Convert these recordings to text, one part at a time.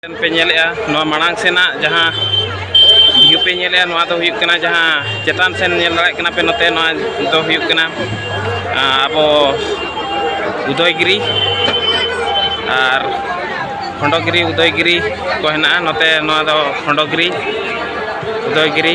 ᱯᱮ ᱧᱮᱞᱮᱜᱼᱟ ᱱᱚᱣᱟ ᱢᱟᱲᱟᱝ ᱥᱮᱱᱟᱜ ᱡᱟᱦᱟᱸ ᱵᱷᱤᱭᱩ ᱯᱮ ᱧᱮᱞᱮᱜᱼᱟ ᱱᱚᱣᱟ ᱫᱚ ᱦᱩᱭᱩᱜ ᱠᱟᱱᱟ ᱡᱟᱦᱟᱸ ᱪᱮᱛᱟᱱ ᱥᱮᱱ ᱧᱮᱞ ᱫᱟᱲᱮᱭᱟᱜ ᱠᱟᱱᱟ ᱯᱮ ᱱᱚᱛᱮ ᱱᱚᱣᱟ ᱫᱚ ᱦᱩᱭᱩᱜ ᱠᱟᱱᱟ ᱟᱵᱚ ᱩᱫᱚᱭᱜᱤᱨᱤ ᱟᱨ ᱠᱷᱚᱸᱰᱚᱜᱤᱨᱤ ᱩᱫᱚᱭᱜᱤᱨᱤ ᱠᱚ ᱦᱮᱱᱟᱜᱼᱟ ᱱᱚᱛᱮ ᱱᱚᱣᱟ ᱫᱚ ᱠᱷᱚᱸᱰᱚᱜᱤᱨᱤ ᱩᱫᱚᱭᱜᱤᱨᱤ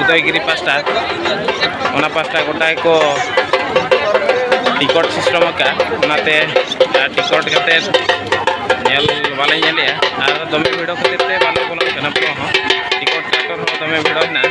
ᱩᱫᱚᱭᱜᱤᱨᱤ ᱯᱟᱥᱴᱟ ᱚᱱᱟ ᱯᱟᱥᱴᱟ ᱜᱚᱴᱟ ᱜᱮᱠᱚ ᱴᱤᱠᱚᱴ ᱥᱤᱥᱴᱚᱢ ᱟᱠᱟᱫᱼᱟ ᱚᱱᱟᱛᱮ ᱴᱤᱠᱚᱴ ᱠᱟᱛᱮᱫ ᱧᱮᱞ ᱵᱟᱞᱮ ᱧᱮᱞᱮᱜᱼᱟ ᱟᱨ ᱫᱚᱢᱮ ᱵᱷᱤᱲᱚ ᱠᱷᱟᱹᱛᱤᱨ ᱛᱮ ᱵᱟᱞᱮ ᱵᱚᱞᱚᱜ ᱠᱟᱱᱟ ᱵᱚᱞᱚ ᱦᱚᱸ ᱴᱤᱠᱚᱴ ᱠᱟᱣᱴᱟᱨ ᱦᱚᱸ ᱫᱚᱢᱮ ᱵᱷᱤᱲᱚ ᱦᱮᱱᱟᱜᱼᱟ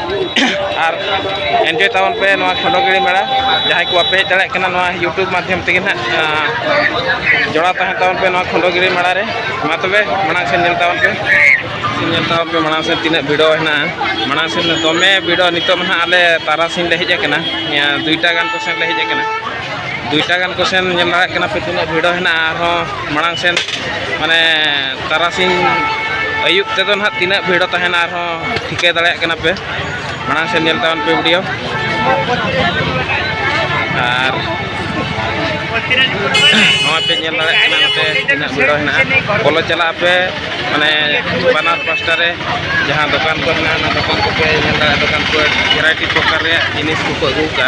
ᱟᱨ ᱮᱱᱡᱚᱭ ᱛᱟᱵᱚᱱ ᱯᱮ ᱱᱚᱣᱟ ᱠᱷᱚᱸᱰᱚᱜᱤᱲᱤ ᱢᱮᱲᱟ ᱡᱟᱦᱟᱸᱭ ᱠᱚ ᱵᱟᱯᱮ ᱦᱮᱡ ᱫᱟᱲᱮᱭᱟᱜ ᱠᱟᱱᱟ ᱱᱚᱣᱟ ᱤᱭᱩᱴᱩᱵᱽ ᱢᱟᱫᱽᱫᱷᱚᱢ ᱛᱮᱜᱮ ᱱᱟᱜ ᱡᱚᱲᱟᱣ ᱛᱟᱦᱮᱸ ᱛᱟᱵᱚᱱ ᱯᱮ ᱱᱚᱣᱟ ᱠᱷᱚᱸᱰᱚᱜᱤᱲᱤ ᱢᱮᱲᱟ ᱨᱮ ᱢᱟ ᱛᱚᱵᱮ ᱢᱟᱲᱟᱝ ᱥᱮᱫ ᱧᱮᱞ ᱛᱟᱵᱚᱱ ᱯᱮ ᱧᱮᱞ ᱛᱟᱵᱚᱱ ᱯᱮ ᱢᱟᱲᱟᱝ ᱥᱮᱫ ᱛᱤᱱᱟᱹᱜ ᱵᱷᱤᱲᱚ ᱦᱮᱱᱟᱜᱼᱟ ᱢᱟᱲᱟᱝ ᱥᱮᱫ ᱫᱚᱢᱮ ᱵᱷᱤᱲᱚ ᱱᱤᱛᱚᱜ ᱢᱟ ᱱᱟᱜ ᱟᱞᱮ ᱛᱟᱨᱟᱥᱤᱧ ᱞᱮ ᱦᱮᱡ ᱟᱠᱟᱱᱟ ᱫᱩᱭᱴᱟ ᱜᱟᱱ ᱠᱚᱥᱮᱱ ᱞᱮ ᱦᱮᱡ ᱟᱠᱟᱱᱟ ᱫᱩᱭᱴᱟ ᱜᱟᱱ ᱠᱚ ᱥᱮᱱ ᱧᱮᱞ ᱫᱟᱲᱮᱭᱟᱜ ᱠᱟᱱᱟ ᱯᱮ ᱛᱤᱱᱟᱹᱜ ᱵᱷᱤᱲᱚ ᱦᱮᱱᱟᱜᱼᱟ ᱟᱨᱦᱚᱸ ᱢᱟᱲᱟᱝ ᱥᱮᱱ ᱢᱟᱱᱮ ᱛᱟᱨᱟᱥᱤᱧ ᱟᱹᱭᱩᱵ ᱛᱮᱫᱚ ᱱᱟᱦᱟᱜ ᱛᱤᱱᱟᱹᱜ ᱵᱷᱤᱲᱚ ᱛᱟᱦᱮᱱᱟ ᱟᱨᱦᱚᱸ ᱴᱷᱤᱠᱟᱹ ᱫᱟᱲᱮᱭᱟᱜ ᱠᱟᱱᱟ ᱯᱮ ᱢᱟᱲᱟᱝ ᱥᱮᱱ ᱧᱮᱞ ᱛᱟᱵᱚᱱ ᱯᱮ ᱵᱷᱤᱰᱤᱭᱳ ᱟᱨ ᱱᱚᱣᱟ ᱯᱮ ᱧᱮᱞ ᱫᱟᱲᱮᱭᱟᱜ ᱠᱟᱱᱟ ᱱᱚᱛᱮ ᱛᱤᱱᱟᱹᱜ ᱵᱷᱤᱲᱚ ᱦᱮᱱᱟᱜᱼᱟ ᱵᱚᱞᱚ ᱪᱟᱞᱟᱜ ᱟᱯᱮ ᱢᱟᱱᱮ ᱵᱟᱱᱟᱨ ᱯᱟᱥᱴᱟ ᱨᱮ ᱡᱟᱦᱟᱸ ᱫᱚᱠᱟᱱ ᱠᱚ ᱦᱮᱱᱟᱜᱼᱟ ᱚᱱᱟ ᱫᱚᱠᱟᱱ ᱠᱚᱯᱮ ᱧᱮᱞ ᱫᱟᱲᱮᱭᱟᱜᱼᱟ ᱫᱚᱠᱟᱱ ᱠᱚ ᱵᱷᱮᱨᱟᱭᱴᱤ ᱯᱨᱚᱠᱟᱨ ᱨᱮᱭᱟᱜ ᱡᱤᱱᱤᱥ ᱠᱚᱠᱚ ᱟᱹᱜᱩ ᱠᱟᱜᱼᱟ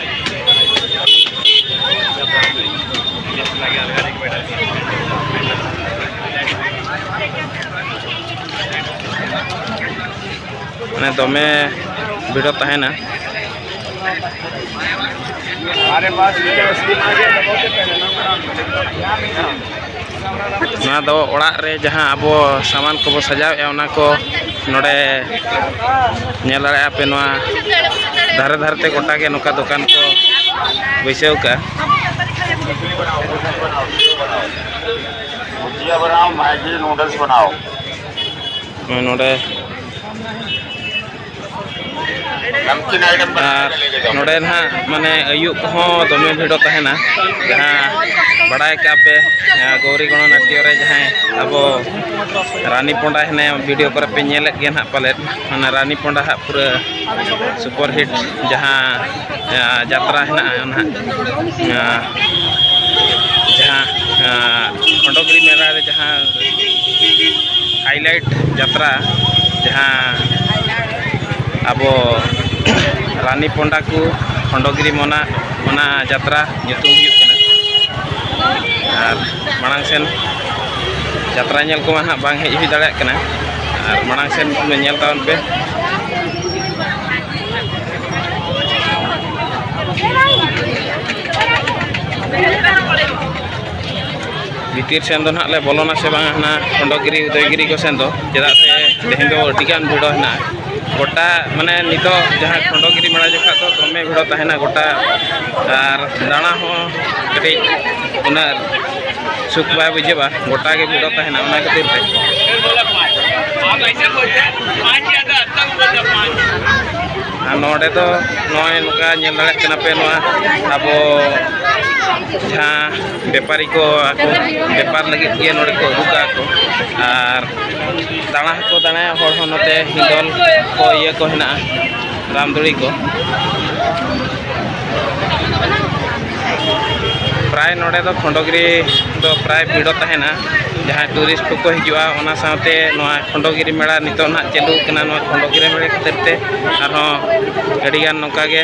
ᱢᱟᱱᱮ ᱫᱚᱢᱮ ᱵᱷᱤᱲᱚ ᱛᱟᱦᱮᱱᱟ ᱱᱚᱣᱟ ᱫᱚ ᱚᱲᱟᱜ ᱨᱮ ᱡᱟᱦᱟᱸ ᱟᱵᱚ ᱥᱟᱢᱟᱱ ᱠᱚᱵᱚ ᱥᱟᱡᱟᱣᱮᱫᱼᱟ ᱚᱱᱟ ᱠᱚ ᱱᱚᱰᱮ ᱧᱮᱞ ᱫᱟᱲᱮᱭᱟᱜᱼᱟ ᱯᱮ ᱱᱚᱣᱟ ᱫᱷᱟᱨᱮ ᱫᱷᱟᱨᱮ ᱛᱮ ᱜᱚᱴᱟ ᱜᱮ ᱱᱚᱝᱠᱟ ᱫᱚᱠᱟᱱ ᱠᱚ ᱵᱟᱹᱭᱥᱟᱹᱣ ᱠᱟᱜᱼᱟ ᱱᱚᱰᱮ ᱟᱨ ᱱᱚᱰᱮ ᱱᱟᱦᱟᱜ ᱢᱟᱱᱮ ᱟᱹᱭᱩᱵ ᱠᱚᱦᱚᱸ ᱫᱚᱢᱮ ᱵᱷᱤᱲᱚ ᱛᱟᱦᱮᱱᱟ ᱡᱟᱦᱟᱸ ᱵᱟᱲᱟᱭ ᱠᱟᱜ ᱯᱮ ᱜᱳᱣᱨᱤ ᱜᱚᱬᱚ ᱱᱟᱴᱭᱚ ᱨᱮ ᱡᱟᱦᱟᱸᱭ ᱟᱵᱚ ᱨᱟᱱᱤ ᱯᱚᱸᱰᱟ ᱦᱮᱱᱟᱭᱟ ᱵᱷᱤᱰᱤᱭᱳ ᱠᱚᱨᱮ ᱯᱮ ᱧᱮᱞᱮᱫ ᱜᱮᱭᱟ ᱱᱟᱦᱟᱜ ᱯᱟᱞᱮᱫ ᱚᱱᱟ ᱨᱟᱱᱤ ᱯᱚᱸᱰᱟ ᱦᱟᱜ ᱯᱩᱨᱟᱹ ᱥᱩᱯᱟᱨ ᱦᱤᱴ ᱡᱟᱦᱟᱸ ᱡᱟᱦᱟᱸ ᱡᱟᱛᱨᱟ ᱦᱮᱱᱟᱜᱼᱟ ᱚᱱᱟ ᱡᱟᱦᱟᱸ ᱠᱷᱚᱸᱰᱚᱜᱤᱨᱤ ᱢᱮᱞᱟ ᱨᱮ ᱡᱟᱦᱟᱸ ᱦᱟᱭᱞᱟᱭᱤᱴ ᱡᱟᱛᱨᱟ ᱡᱟᱦᱟᱸ ᱟᱵᱚ ᱨᱟᱱᱤ ᱯᱚᱱᱰᱟ ᱠᱚ ᱠᱷᱚᱸᱰᱚᱜᱤᱨᱤ ᱢᱚᱱᱟ ᱚᱱᱟ ᱡᱟᱛᱨᱟ ᱧᱩᱛᱩᱢ ᱦᱩᱭᱩᱜ ᱠᱟᱱᱟ ᱟᱨ ᱢᱟᱲᱟᱝ ᱥᱮᱱ ᱡᱟᱛᱨᱟ ᱧᱮᱞ ᱠᱚᱢᱟ ᱦᱟᱸᱜ ᱵᱟᱝ ᱦᱮᱡ ᱦᱩᱭ ᱫᱟᱲᱮᱭᱟᱜ ᱠᱟᱱᱟ ᱟᱨ ᱢᱟᱲᱟᱝ ᱥᱮᱱ ᱧᱮᱞ ᱛᱟᱵᱚᱱ ᱯᱮ ᱵᱷᱤᱛᱤᱨ ᱥᱮᱱ ᱫᱚ ᱱᱟᱦᱟᱜ ᱞᱮ ᱵᱚᱞᱚᱱᱟ ᱥᱮ ᱵᱟᱝ ᱦᱟᱱᱟ ᱠᱷᱚᱸᱰᱚᱜᱤᱨᱤ ᱩᱫᱚᱭᱜᱤᱨᱤ ᱠᱚ ᱥᱮᱱ ᱫᱚ ᱪᱮᱫᱟᱜ ᱥᱮ ᱛᱮᱦᱮᱧ ᱫᱚ ᱟᱹᱰᱤᱜᱟᱱ ᱵᱷᱤᱲᱚ ᱦᱮᱱᱟᱜᱼᱟ ᱜᱚᱴᱟ ᱢᱟᱱᱮ ᱱᱤᱛᱚᱜ ᱡᱟᱦᱟᱸ ᱠᱷᱚᱸᱰᱚᱜᱤᱨᱤ ᱢᱮᱲᱟ ᱡᱚᱠᱷᱟᱜ ᱫᱚ ᱫᱚᱢᱮ ᱵᱷᱤᱲᱚ ᱛᱟᱦᱮᱱᱟ ᱜᱚᱴᱟ ᱟᱨ ᱫᱟᱬᱟ ᱦᱚᱸ ᱠᱟᱹᱴᱤᱡ ᱩᱱᱟᱹᱜ ᱥᱩᱠ ᱵᱟᱭ ᱵᱩᱡᱷᱟᱹᱜᱼᱟ ᱜᱚᱴᱟ ᱜᱮ ᱵᱷᱤᱲᱚ ᱛᱟᱦᱮᱱᱟ ᱚᱱᱟ ᱠᱷᱟᱹᱛᱤᱨ ᱛᱮ ᱟᱨ ᱱᱚᱰᱮ ᱫᱚ ᱱᱚᱜᱼᱚᱭ ᱱᱚᱝᱠᱟ ᱧᱮᱞ ᱫᱟᱲᱮᱭᱟᱜ ᱠᱟᱱᱟ ᱯᱮ ᱱᱚᱣᱟ ᱟᱵᱚ ᱡᱟᱦᱟᱸ ᱵᱮᱯᱟᱨᱤ ᱠᱚ ᱟᱠᱚ ᱵᱮᱯᱟᱨ ᱞᱟᱹᱜᱤᱫ ᱜᱮ ᱱᱚᱰᱮ ᱠᱚ ᱟᱹᱜᱩ ᱠᱟᱜᱼᱟ ᱠᱚ ᱟᱨ ᱫᱟᱬᱟ ᱦᱚᱸᱠᱚ ᱫᱟᱬᱟᱭᱟ ᱦᱚᱲ ᱦᱚᱸ ᱱᱚᱛᱮ ᱦᱤᱸᱰᱚᱞ ᱠᱚ ᱤᱭᱟᱹ ᱠᱚ ᱦᱮᱱᱟᱜᱼᱟ ᱨᱟᱢᱫᱚᱲᱤ ᱠᱚ ᱯᱨᱟᱭ ᱱᱚᱰᱮ ᱫᱚ ᱠᱷᱚᱸᱰᱚᱜᱤᱨᱤ ᱫᱚ ᱯᱨᱟᱭ ᱵᱷᱤᱲᱚ ᱛᱟᱦᱮᱱᱟ ᱡᱟᱦᱟᱸᱭ ᱴᱩᱨᱤᱥᱴ ᱠᱚᱠᱚ ᱦᱤᱡᱩᱜᱼᱟ ᱚᱱᱟ ᱥᱟᱶᱛᱮ ᱱᱚᱣᱟ ᱠᱷᱚᱸᱰᱚᱜᱤᱨᱤ ᱢᱮᱞᱟ ᱱᱤᱛᱚᱜ ᱱᱟᱦᱟᱜ ᱪᱟᱹᱞᱩ ᱠᱟᱱᱟ ᱱᱚᱣᱟ ᱠᱷᱚᱸᱰᱚᱜᱤᱨᱤ ᱢᱮᱞᱟ ᱠᱷᱟᱹᱛᱤᱨ ᱛᱮ ᱟᱨᱦᱚᱸ ᱟᱹᱰᱤᱜᱟᱱ ᱱᱚᱝᱠᱟ ᱜᱮ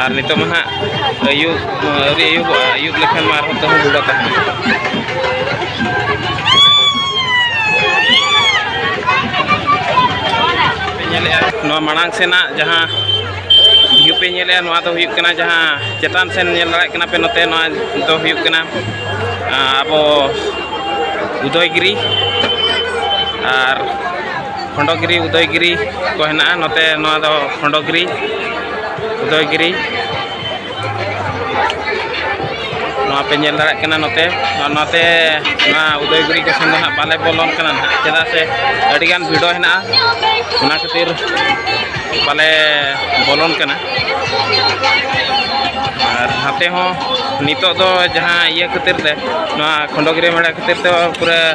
ᱟᱨ ᱱᱤᱛᱚᱜ ᱢᱟ ᱦᱟᱸᱜ ᱟᱹᱭᱩᱵ ᱟᱹᱣᱨᱤ ᱟᱹᱭᱩᱵᱚᱜᱼᱟ ᱟᱹᱭᱩᱵ ᱞᱮᱠᱷᱟᱱ ᱢᱟ ᱟᱨᱦᱚᱸ ᱛᱟᱹᱦᱩ ᱵᱩᱰᱟ ᱛᱟᱦᱮᱱᱟ ᱧᱮᱞᱮᱜᱼᱟ ᱱᱚᱣᱟ ᱢᱟᱲᱟᱝ ᱥᱮᱱᱟᱜ ᱡᱟᱦᱟᱸ ᱵᱷᱤᱭᱩ ᱯᱮ ᱧᱮᱞᱮᱜᱼᱟ ᱱᱚᱣᱟ ᱫᱚ ᱦᱩᱭᱩᱜ ᱠᱟᱱᱟ ᱡᱟᱦᱟᱸ ᱪᱮᱛᱟᱱ ᱥᱮᱱ ᱧᱮᱞ ᱫᱟᱲᱮᱭᱟᱜ ᱠᱟᱱᱟ ᱯᱮ ᱱᱚᱛᱮ ᱱᱚᱣᱟ ᱫᱚ ᱦᱩᱭᱩᱜ ᱠᱟᱱᱟ ᱟᱵᱚ ᱩᱫᱚᱭᱜᱤᱨᱤ ᱟᱨ ᱠᱷᱚᱸᱰᱚᱜᱤᱨᱤ ᱩᱫᱚᱭᱜᱤᱨᱤ ᱠᱚ ᱦᱮᱱᱟᱜᱼᱟ ᱱᱚᱛᱮ ᱱᱚᱣᱟ ᱫᱚ ᱠᱷᱚᱸᱰᱚᱜᱤᱨᱤ ᱩᱫᱚᱭᱜᱤᱨᱤ ᱱᱚᱣᱟ ᱯᱮ ᱧᱮᱞ ᱫᱟᱲᱮᱭᱟᱜ ᱠᱟᱱᱟ ᱱᱚᱛᱮ ᱱᱚᱛᱮ ᱱᱚᱣᱟ ᱩᱫᱚᱭᱜᱤᱨᱤ ᱠᱚ ᱥᱮᱱ ᱫᱚ ᱦᱟᱸᱜ ᱵᱟᱞᱮ ᱵᱚᱞᱚᱱ ᱠᱟᱱᱟ ᱱᱟᱦᱟᱜ ᱪᱮᱫᱟᱜ ᱥᱮ ᱟᱹᱰᱤᱜᱟᱱ ᱵᱷᱤᱰᱚ ᱦᱮᱱᱟᱜᱼᱟ ᱚᱱᱟ ᱠᱷᱟᱹᱛᱤᱨ ᱵᱟᱞᱮ ᱵᱚᱞᱚᱱ ᱠᱟᱱᱟ ᱟᱨ ᱱᱟᱛᱮ ᱦᱚᱸ ᱱᱤᱛᱚᱜ ᱫᱚ ᱡᱟᱦᱟᱸ ᱤᱭᱟᱹ ᱠᱷᱟᱹᱛᱤᱨ ᱛᱮ ᱱᱚᱣᱟ ᱠᱷᱚᱸᱰᱚᱜᱤᱨᱤ ᱢᱮᱲᱟ ᱠᱷᱟᱹᱛᱤᱨ ᱛᱮ ᱯᱩᱨᱟᱹ